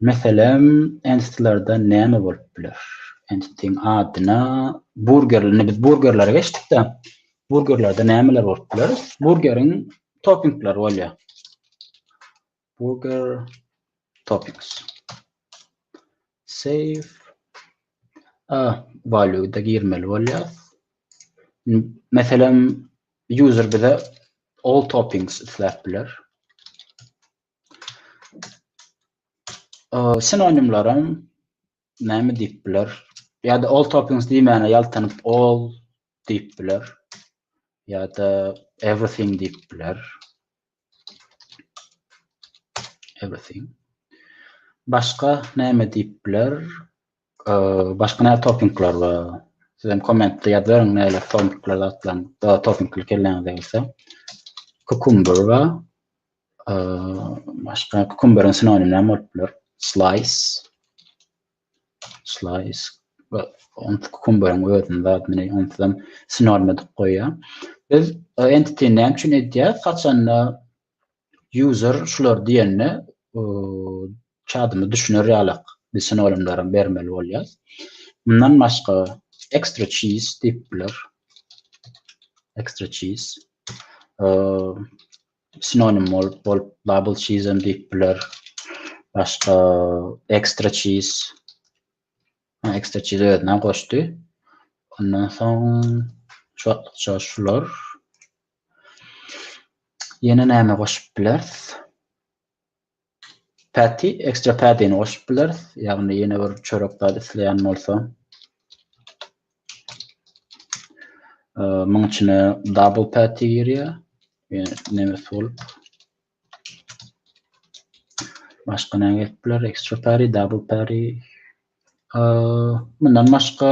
Meselem, entitlarda näme bolup biler? Entitiň adyna burger, indi biz burgerlere geçdik-de, burgerlerde nämeler bolup biler? Burgeriň toppingleri bolýar. Burger toppings. Save. A, value-da girmeli bolýar. Meselem, user bize all toppings isläp biler. Sinonimlerim näme diýip biler? Ýa-da all tokens diýmäne ýaltanyp all diýip biler. Ýa-da everything diýip biler. Everything. Başga näme diýip biler? Başga näme topingler bar? Siz hem kommentde ýazyň näme topingler atlan, da topingler kelläňize gelse. Kukumber we başga kukumberiň sinonimleri bolup biler. Slice. Slice. Onu kukumberiň özünde admini onu hem sinonim edip goýýar. Biz entity näme üçin edýär? Haçanda User şulary diýende çadymy düşüner ýalak biz sinonimlerem bermeli bolýas. Mundan başga extra cheese diýip biler. Extra cheese. Sinonim bolup bolup double cheese hem diýip biler. Başga extra cheese. Extra cheese özüne goşdy. Ondan soň şular Ýene näme goşup bileris? Patty, extra patty-ni goşup bileris. Ýagny ýene bir çörek zat isleýän bolsa. Muň içine double patty girýär. Ýöne näme bolup? Başga näme gelip biler? Extra patty, double patty. Mundan başga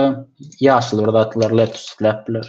ýaşyl bir zatlar lettuce isläp biler.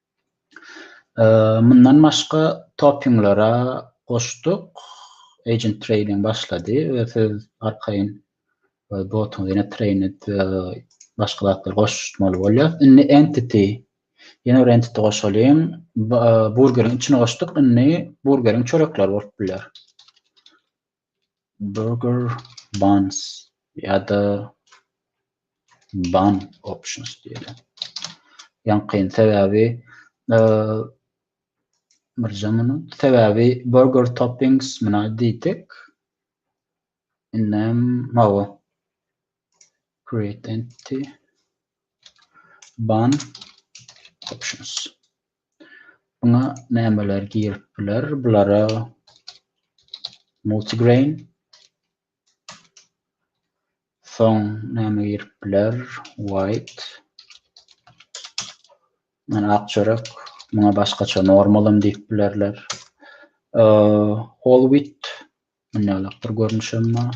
Mundan başga topinglere goşduk. Agent trading başlady we siz arkaýyn botuňyzy ýene trained başga zatlar goşmaly bolýar. Indi entity ýene bir entity goşalyň. Burgeriň içine goşduk. Indi burgeriň çörekleri bolup biler. Burger Buns ýa-da Bun Options diýeli. Ýaňky sebäbi Myrjamynyň sebäbi burger toppings muna diýdik. Indem mawa. Create entity. Bun options. Buna nämeler girip biler? Bulara multigrain. Soň näme girip biler? White. Yani ak çörek. Buna başgaça normalam diýip bilerler. Whole wheat. Münýalakdyr görnüşem bar.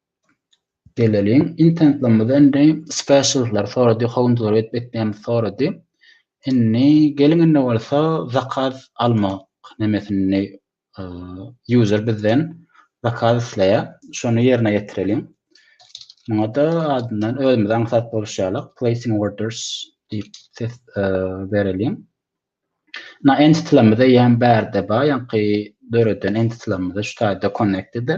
Geleliň internetlerimize indi special'lary sorady, howundylar edip etmeýämiz sorady. Indi geliň indi bolsa zakaz almak nemesini user bizden zakaz isleýär. Şony ýerine ýetireliň. Muňa-da adyndan özümiz aňsat boluşýarlyk placing orders diýip ses bereliň. Na entity'larymyz eýýäm bärde bar, ýaňky döreden entity'larymyz şu taýda connected.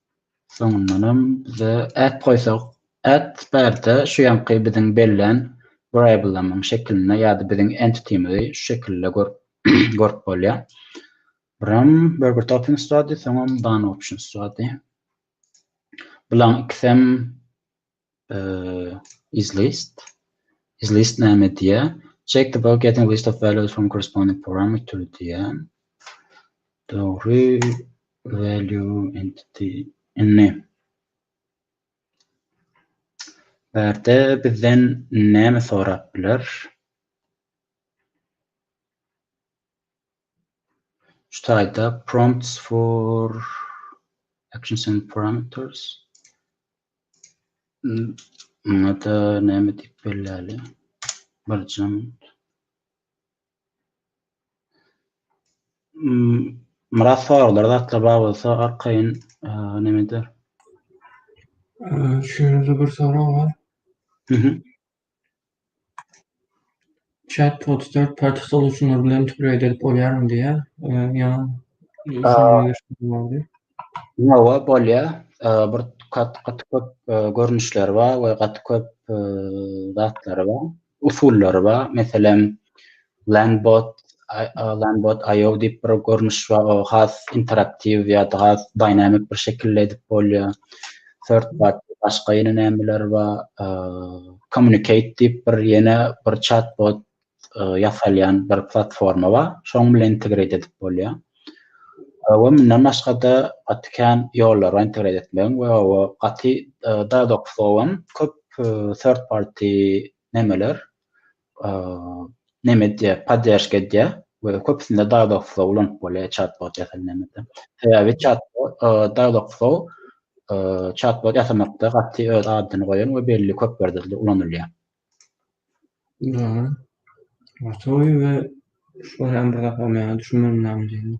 Soňundanam bize at goýsak, at bärde şu ýanky biziň bellän variablemyň şekilinde ýa-da biziň entitymyzy şu şekilde görüp bolýar. Buram burger toppings durady, soňam bun options durady. Bulaň ikisem is list. Is list näme diýýär? Check the box getting list of values from corresponding parameter diýýär. Dogry value entity inni. Bärde bizden näme sorap biler? Şu taýda prompts for actions and parameters. Muňada näme diýip belläli? Birjigem. Myrat soraglar zatlar bar bolsa arkaýyn neme eder.
Şeýle-de bir sorag bar. Chat bot third party solutionlar bilen integrate edip bolýarmy diýýär. Ýaňy
Ýowa bolýar. Bir gaty köp görnüşleri bar we gaty köp zatlary bar, usullary bar. Meselem, Landbot Landbot IO diýip bir görnüş bar. O has interaktiw ýa-da has dynamik bir şekilde edip bolýar. Third bot başga ýene nämeler bar? Communicate diýip bir ýene bir chatbot ýasalýan bir platforma bar. Şoň bilen integrate edip bolýar. We mundan başga-da gaty kän ýollar bar integrate etmegiň we o gaty Dialogflow hem köp third party nämeler neme edýär, podderşka edýär we köpüsinde Dialogflow ulanyp bolýar çatbot ýasalýanda. Sebäbi çatbot, Dialogflow çatbot ýasamakda gaty öz adyny goýan we belli köp ýerde ulanylýar. Gowy
we şular hem bir zat bolmaýar, düşünmedim näme diýenini.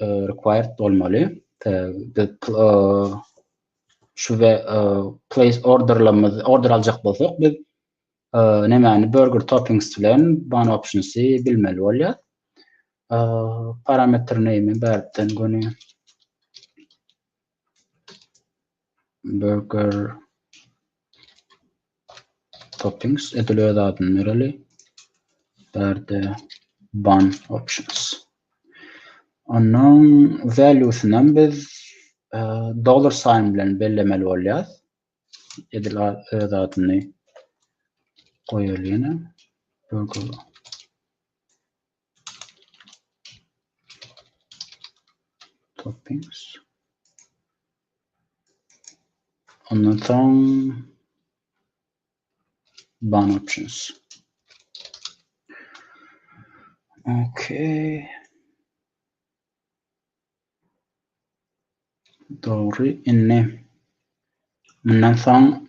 required bolmaly. Şu we place orderlarymyz order aljak bolsak biz nämäni burger toppings bilen bun optionsy bilmeli bolýar. Parametr name bärden göni burger toppings edil öz adyny bereli bärde bun options ondan valuesyny hem biz e, dollar sign bilen bellemeli bolýar edil öz adyny goýalyna burger Toppings. Ondan soň ban options. Okay. Doğru. Indi bundan soň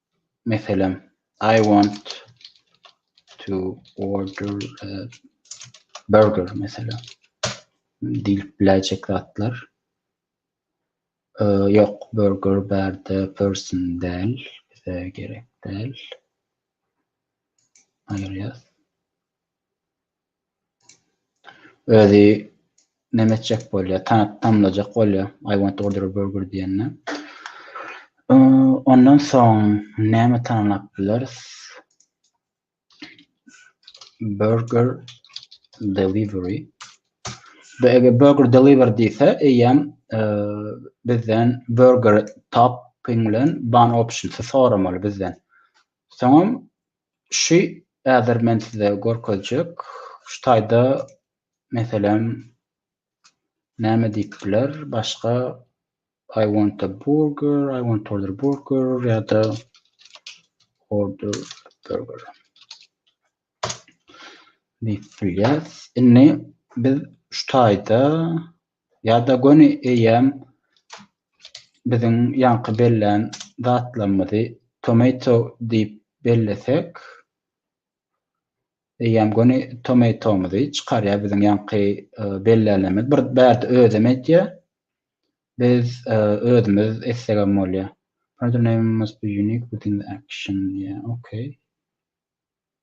Meselem, I want to order a burger, meselem. Diýip biläýjek zatlar. Ýok, burger bärde person däl, bize gerek däl. Aýyrýas. Özi neme etjek bolýa tanap tamlajak bolýa I want to order a burger diýende. Ondan soň näme tanlap bileris? Burger delivery. Bu eger burger deliver diýse, eýýäm bizden burger topping bilen bun option soramaly bizden. Soňam Şu häzir men size görkezjek. Şu taýda meselem näme diýip biler başga I want a burger, I want to order burger ýa-da order burger diýip bilýäris. Indi biz şu taýda Ýa-da göni eýýäm biziň ýaňky bellän zatlarymyzy tomato diýip bellesek, eýýäm göni tomato-myzy çykarýar biziň ýaňky bellänlerimiz. Bir bärde özem edýär. Biz özümiz etsegem bolýar. Further name must be unique within the action diýýär. Okey.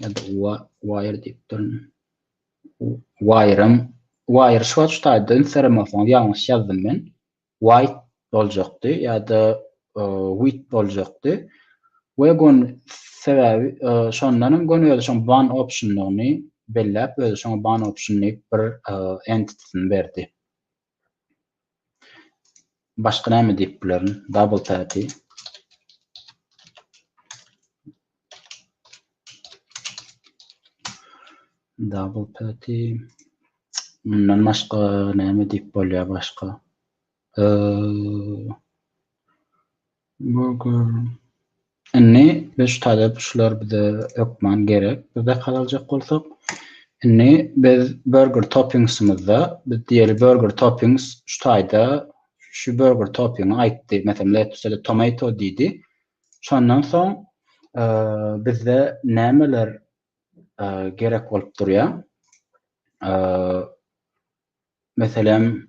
Ýa-da wire diýip durun. Wire-em, wire şu wagt şu taýda ünslerim bolsaňyz ýalňyş ýazdym men. White boljakdy ýa-da wit boljakdy. We gon sebäbi şondan hem gon özi şoň ban optionlygyny belläp, özi şoňa ban option diýip bir entity-sini berdi. Başga näme diýip bilerin? Double tap'i Double tap'i Mundan başga näme diýip bolýar başga? Eee Burger. Indi biz şu talep şular bize hökman gerek. Biz zakaz aljak bolsak. Indi biz burger toppingsymyzda biz diýeli burger toppings şu taýda şu burger toppingi aýtdy. Meselem lettuce ya-da tomato diýdi. Şondan soň bizde nämeler gerek bolup durýar? Meselem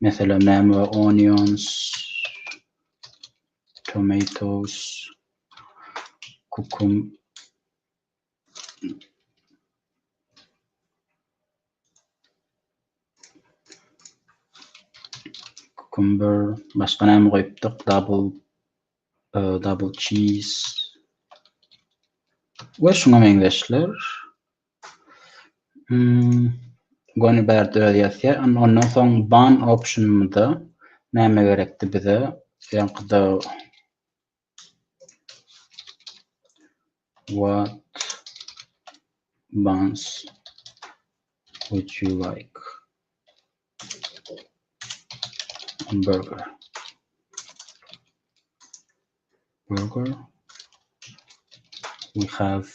Mesela näme we onions, tomatoes, kukum. Cucumber, başga näme goýupdyk? Double Ee, double cheese we şuňa meňzeşler. Hmm, göni bärde öz ýazýar. Ondan soň ban optionymyzda näme gerekdi bize? Ýaňkyda What buns would you like? Burger. Burger. We have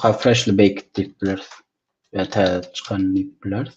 have freshly baked diýip bileris. Ýa-da täze çykan diýip bileris.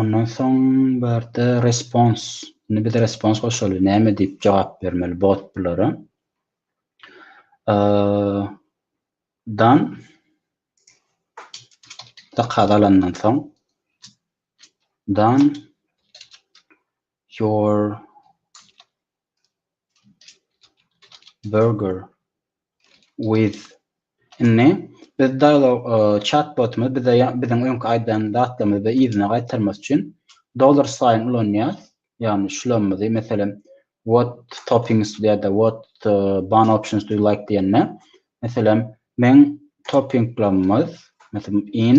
Ondan soň bu ýerde respons. Indi biz respons goşaly näme diýip jogap bermeli bot bulara? dan zakaz alandan soň dan your Burger with Indi biz dialog chat botumyz bize biziň öňki aýdan zatlarymyzy yzyna gaýtarmak üçin dollar sign ulanýar. Ýagny şulamyzy meselem what toppings ýa-da what bun options do you like diýende meselem men toppinglarymyz meselem in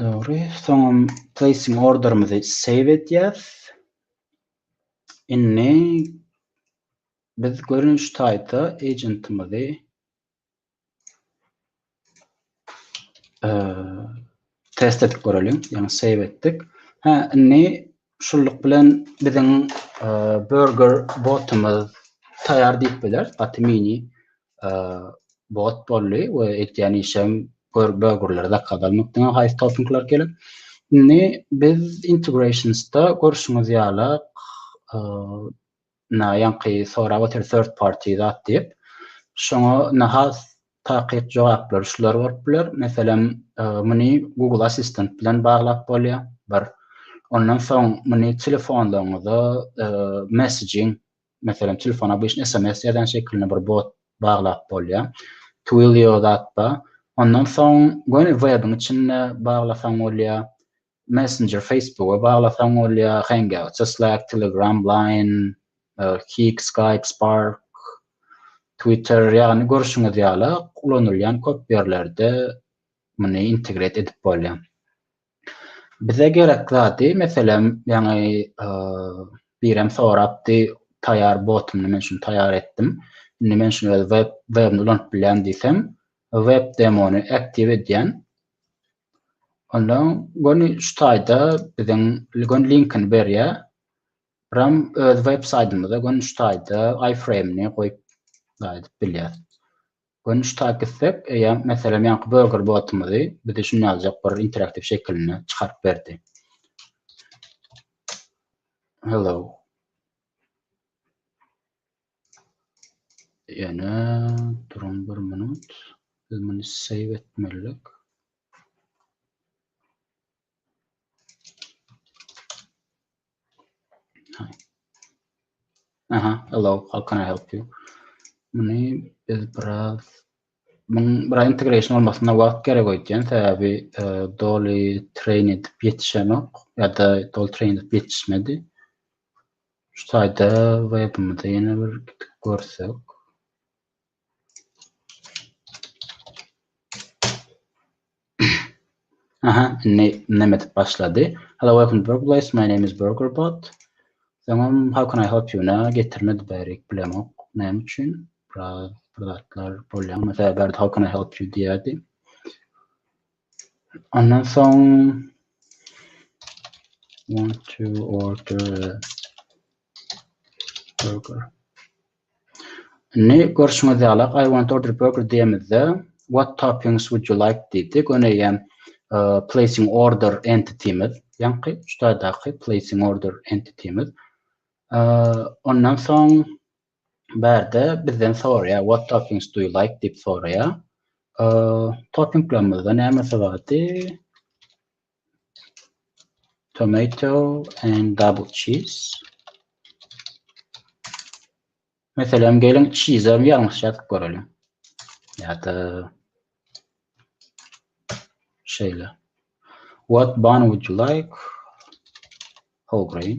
Dogry. Soňam placing orderimizi save edýäs. Indi biz görnüş taýda agentimizi Test edip göreliň. Ýagny save etdik. Hä, indi şullyk bilen biziň e, burger botumyz taýýar diýip biler. Gaty mini e, bot boldy we etýän işem burgerleri zakaz almakdan haýsy toppingler gelip. Indi biz integrationsda görşüňiz ýaly e, Ynha, ýaňky sorap otyr third party zat diýip. Şoňa ynha has takyk jogaplary şular bolup biler. Meselem, muny Google Assistant bilen baglap bolýar, bir. Ondan soň muny telefonlaryňyza messaging, meselem, telefona obyçny sms ýazýan şekilinde bir bot baglap bolýar. Twilio zat bar. Ondan soň göni webiň içinde baglasaň bolýar. Messenger Facebooka baglasaň bolýa, Hangouts, Slack, Telegram, Line, Kik, Skype, Spark, Twitter ýagny görşüňiz ýaly ulanylýan köp ýerlerde muny integret edip bolýa. Bize gerek zady meselem ýaňy birem sorapdy taýar botumy men şuny taýar etdim. Indi men şuny öz web webini ulanyp bilýän diýsem web demony aktiw edýän. Onda göni şu taýda biziň göni linkini berýär. Ram öz web saýtymyzda göni şu taýda iframe-ni goýup aýdyp bilýär. Göni şu taýda gitsek, eýýäm meselem ýaňky burger botymyzy bize şuny ýaljak bir interaktiw şekilini çykaryp berdi. Hello. Ýöne duruň bir minut. Biz muny save etmelidik. Aha, hello, how can I help you? Muny biz biraz muň bir integration olmasyna wagt gerek öýtýän, sebäbi e, doly train edip ýetişenok ýa-da doly train edip ýetişmedi. Şu taýda webimize ýene bir gidip görsek. Aha, indi näme edip başlady? Hello, welcome to Burger Place. My name is BurgerBot. Soňam how can I help you? Nä getirmedi bärik bilemok. Näme üçin? Biraz zatlar bolýar. Mesela bärde how can I help you diýerdi. Ondan soň want to order burger. Ne görüşüňiz ýaly, I want to order burger diýemizde, what toppings would you like diýdi. Göni ýem placing order entitymyz, ýaňky üçdaýdaky placing order entitymyz. Ondan soň Bärde bizden soraýar what toppings do you like diýip soraýar. Toppinglerimizde nämesi bardy? Tomato and double cheese. Meselem geliň cheese-e ýalňyş ýazyp göreliň. Ýa-da şeýle. What bun would you like? Whole grain.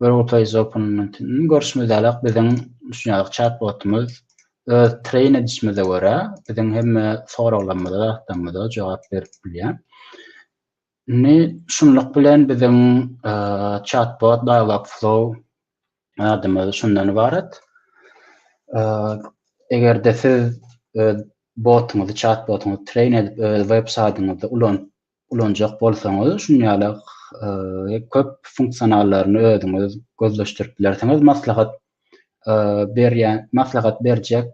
Gurultaý zopunyndan görşümizdeläk biziň şu ýaly çat-botumyz öz treýn edişimize görä biziň hemme soraglarymyza, zatlarymyza jogap berip bilýär. Indi şunluk bilen biziň çat-bot Dialogflow adymyz şundan ybarat. Eger-de siz öz botuňyzy, çat-botuňyzy treýn edip öz web saýdyňyzda ulanyp ulanjak bolsaňyz şun ýaly köp funksionallaryny özüňiz gözleşdirip bilersiňiz. Maslahat berýän, maslahat berjek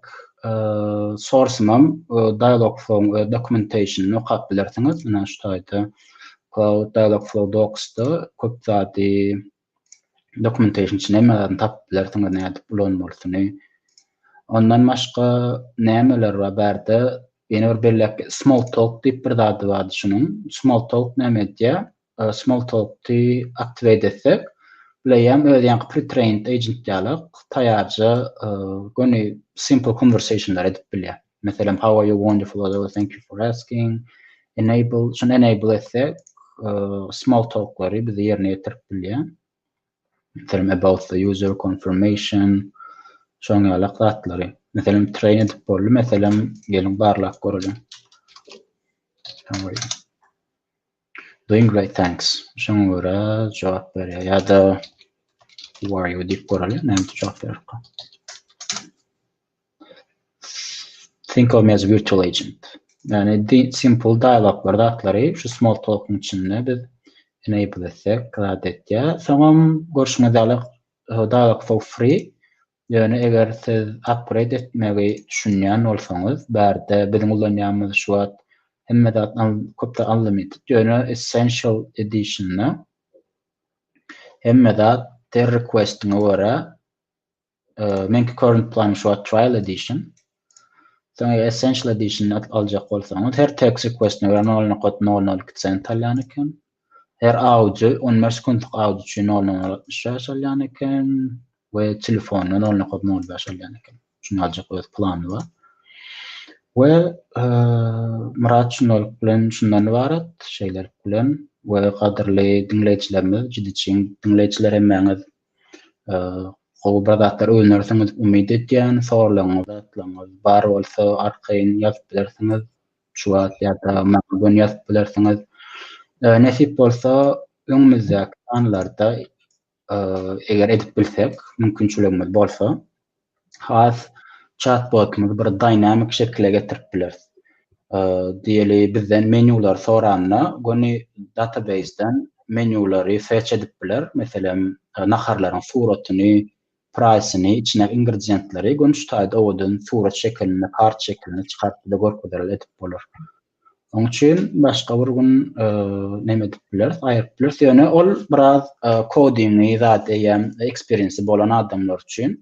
sorsumam Dialogflow-yň öz dokumentationyny okap bilersiňiz. Ine şu taýda Cloud Dialogflow Docs-da köp zady dokumentation üçin hemme zadyny tapyp bilersiňiz nädip ulanmalysyny. Ondan başga nämeler bar bärde? Ýene bir belläp small talk diýip bir zady bardy şunuň. Small talk näme edýär? Small talk-ty activate etsek, Bleýem öz ýaňky pre-trained agent ýaly taýýarja göni simple conversation-lar edip bilýär. Meselem, how are you wonderful or thank you for asking. Enable, şunu enable etsek, small talklary bize yerine getirip bilýär. Meselem, about the user confirmation, şoň ýaly zatlary. Meselem, train edip boldy. Meselem, geliň barlap görelim. How are you? Doing great thanks. Şoňa görä jogap berýär ýa-da who are you diýip göreli näme üçin jogap beripka. Think of me as a virtual agent. Yani simple dialoglar zatları şu small talk'un içinde biz enable etsek, rad etýär. Soňam görşüňiz ýaly dialog for free Ýöne eger siz upgrade etmegi düşünýän bolsaňyz, bärde biziň ulanýanymyz şu wagt hemme zat köpde unlimited, ýöne essential editionda hemme zat ter requestiňe görä, meňki current planym şu wagt trial edition, Soňra Essential Edition aljak bolsaňyz, her text request-iňe görä nol nokat nol nol iki sent alýan eken. Her audio, on bäş sekuntlyk audio üçin nol nokat altmyş bäş alýan eken we telefona nol nokat nol bäş alýan eken. Şuny aljak öz plany bar. We Myrat şundalyk bilen şundan ybarat, şeýlelik bilen we gadyrly diňleýjilerimiz, jidi çyn diňleýjiler hemmäňiz Gowy bir zatlar öwünersiňiz diýip umyt edýän. Sorlaryňyz, zatlaryňyz bar bolsa arkaýyn ýazyp bilersiňiz. Şu wagt ýa-da maňa göni ýazyp bilersiňiz. Nesip bolsa öňümizdäki sanlarda eger edip bilsek, mümkinçiligimiz bolsa has çat-botymyzy bir dynamik şekile getirip bileris. Diýeli, bizden menýulary soranda, göni databeýsden menýulary search edip biler. Meselem, naharlaryň suratyny, praýsyny, içindäki ingredientleri göni şu taýda owadan surat şekilinde, kart şekilinde çykaryp bize görkezeler edip bolar. Oň üçin başga bir gün näme edip bileris, aýyryp bileris. Ýöne ol biraz kodingi zat eýýäm eksperiensi bolan adamlar üçin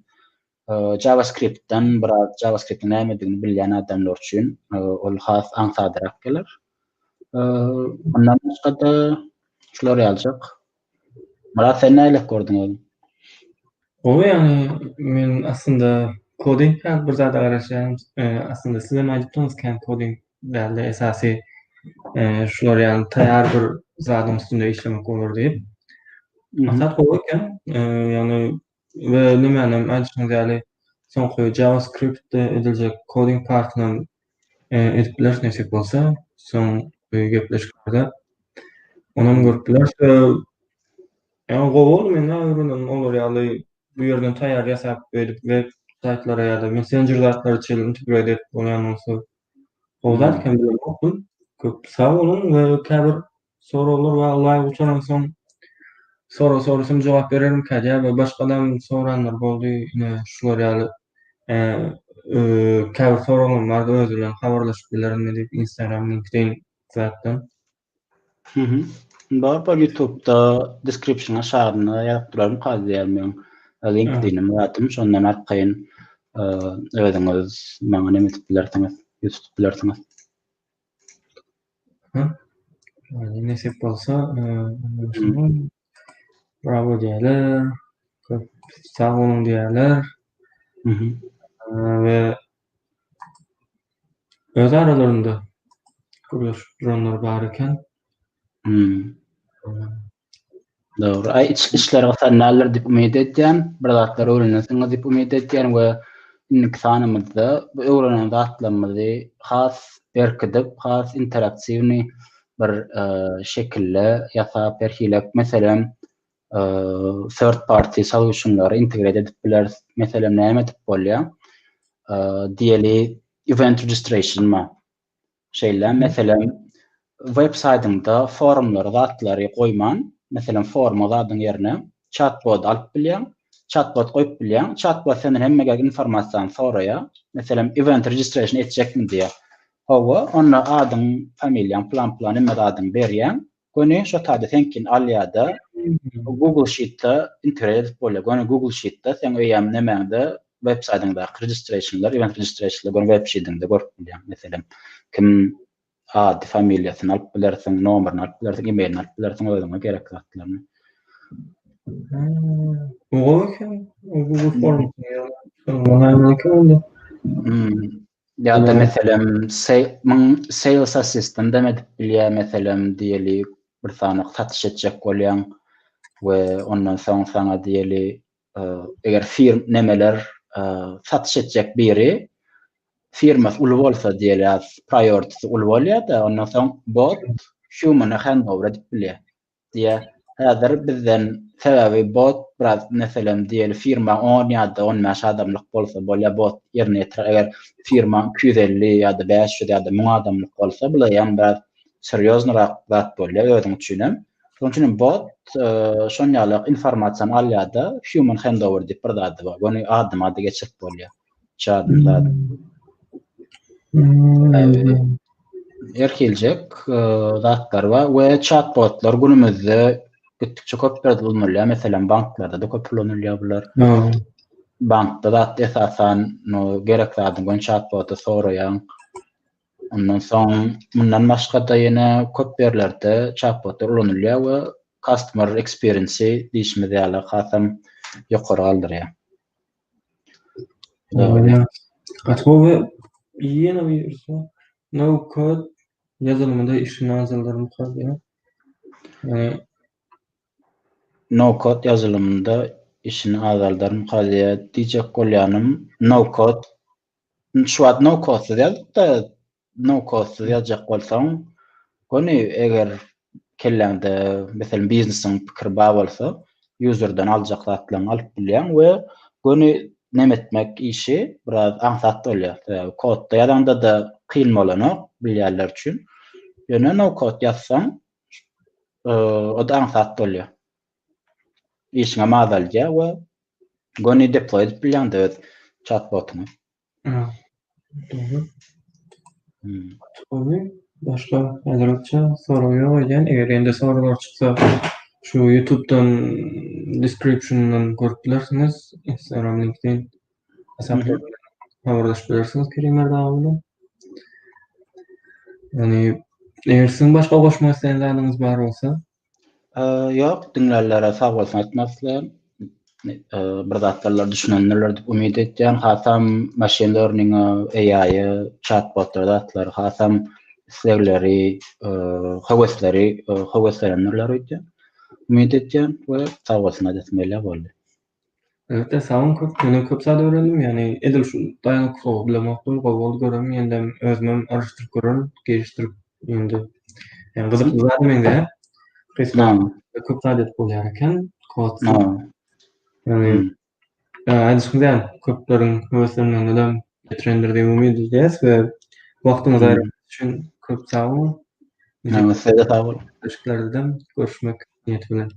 JavaScript-den biraz JavaScript-iň nämedigini bilýän adamlar üçin ol has aňsadrak geler. Ondan başga-da şular ýaljak. Myrat sen nähili gördüň özüň?
Gowy ýagny men aslynda koding däl bir zada garaşýan aslynda sizem aýdypdyňyz kän koding dälde esasy şular ýaly taýýar bir zadyň üstünde işlemek bolar diýip. Maksat gowy eken ýagny We nemäni hem aýdyşyňyz ýaly, soňky JavaScript-de ediljek coding partyny hem edip bileris nesip bolsa, soňky gepleşiklerde onam görüp bileris. Ýa gowy boldy, men näme bilenin olar ýaly bu ýerden taýýar ýasap beýdip web saýtlara ýa-da messenjer zatlary çenli integrate edip bolýan bolsa gowy zat ekeni bilemokdym. Köp sag boluň we käbir Soraglar we alaý gutaransoň sora sorasym jogap bererimkä diýýär we başgalam soranlar boldy ine şular ýaly käbir soraglarym bardy özi bilen habarlaşyp bilerinmi diýip instagram linkedin zatdan.
Bar bar ýutubda deskripsion aşagynda ýazyp duraryn kady diýýär meň linkedinimi zatym şondan arkaýyn özüňiz maňa neme edip bilersiňiz ýutup bilersiňiz.
Ýöne nesip bolsa, bravo diýerler, köp sag boluň diýerler we öz aralarynda gürleşip duranlar bar eken.
Dogry. Aý, işler gysanýarlar diýip umyt edýän, bir zatlar öwrenesiňiz diýip umyt edýän we indiki sanymyzda bu öwrenen zatlarymyzy has berkidip, has interaktiwnyý bir şekilde ýasap, her hili, meselem, third party solution-lary integret edip bileris. Meselem, näme edip bolýar? Diýeli, event registration-a. Şeýle meselem, web saýdyňda forumlara zatlary goýman, meselem, foruma zadyň ýerine çat-bot alyp bilýäň, çat-bot goýup bilýäň. Çat-bot senden hemme gerek informasiýany soraýar. Meselem, event registration etjekmi diýýär. Hawa, onda adyň, familiýaň, plan-plan hemme zadyňy berýäň. Göni şo taýda seňkini alýada Google sheet-de integrate edip bolýar. Göni Google sheet-de seň öýem nemäňde web saýdyňdaky registrationlar, event registrationlar göni web sheet-iňde görüp bilýäň. Meselem, kim ady, familiýasyny alyp bilersiň, nomerini alyp bilersiň, emailini alyp bilersiň, özüňe gerek zatlaryny.
Gowy eken. Google form. Ýa-da. Ýa-da.
Ýa-da meselem sales assistant hem edip bilýär meselem diýelik bir sany satyş etjek bolýaň we ondan soň saňa diýeli eger fir nemeler satyş etjek biri firmasy uly bolsa diýeli priority uly bolýar-da ondan soň bot humana handover edip bilýär. Diýä häzir bizden sebäbi bot biraz meselem diýeli firma on ýada on bäş adamlyk bolsa bolýa bot ýerine ýetirer eger firma iki ýüz elli ýada bäş ýüz ýada müň adamlyk bolsa bulaýam biraz serýoznyrak zat bolýa özüň üçinem şonuň üçinem bot şonýalak informasiýany alýada human handover diýip bir zady bar göni adyma ady geçirip bolýar Çadyr zady. Her hiljek zatlar bar we chatbotlar günümizde gitdikçe köpler ulanylýar. Meselem, banklarda-da köp ulanylýar bular. Bankda zat esasan no gerek zadyň gon chatbota soraýaň. Ondan soň mundan başga-da ýene köp ýerlerde chatbotlar ulanylýar we customer experience-i diýişimiz ýaly hasam ýokary galdyrýar.
Ýa-da gowy ýene bir ýerde no code ýazylmada işi nazarlaryň galýar. Ýa-da
no code ýazylmada işini azaldarym galýar diýjek bolýanym no code. Şu wagt no code ýazyp-da Nokautsyz ýazjak bolsaň, göni eger kelläňde meselem biznesiň pikiri bar bolsa, userden aljak zatlaryňy alyp bilýäň we göni neme etmek işi biraz aňsat bolýar. Sebäbi kodda ýazaňda-da kyn bolanok bilýänler üçin. Ýöne nokaut ýazsaň, o-da aňsat bolýar. Işiňem azaldýar we göni deploý edip bilýäň-de öz çat-botyňy.
Başga aýratyn sorag ýok öýdýän. Eger ýene-de soraglar çyksa, şu ýutubdan description-dan görüp bilersiňiz. Instagram linkden habarlaşyp bilersiňiz Kerim Merdawa bilen. Ýöne eger siziň başga goşmak isleýän zadyňyz bar bolsa, Ýok,
diňlärler-ä sag bolsun aýtmak isleýän. Bir zatlarlar düşünendirler diýip umyt edýän. Hasam maşyn learning-a, AI-a, çat-botlara zatlar hasam islegleri, höwesleri höweslenendirler öýdýän. Umyt edýän we sag bolsun aýdasym gelýär boldy. Elbetde
sag boluň köp menden köp zat öwrendim ýagny edil şu daýanykly sowa bilemokdym gowy boldy gören ýöndem özümem aryşdyryp görerin gelişdirip ýöndem ýagny gyzykly zada meňzeýär Salam. köp zat edip bolýar eken kod ýagny aýdyşym däl köpleriň höweslenmeginem getirendir diýip umyt edýäs we wagtyňyzy aýrandygyňyz üçin köp sag boluň. Sag boluň. Görüşmek
niýeti bilen.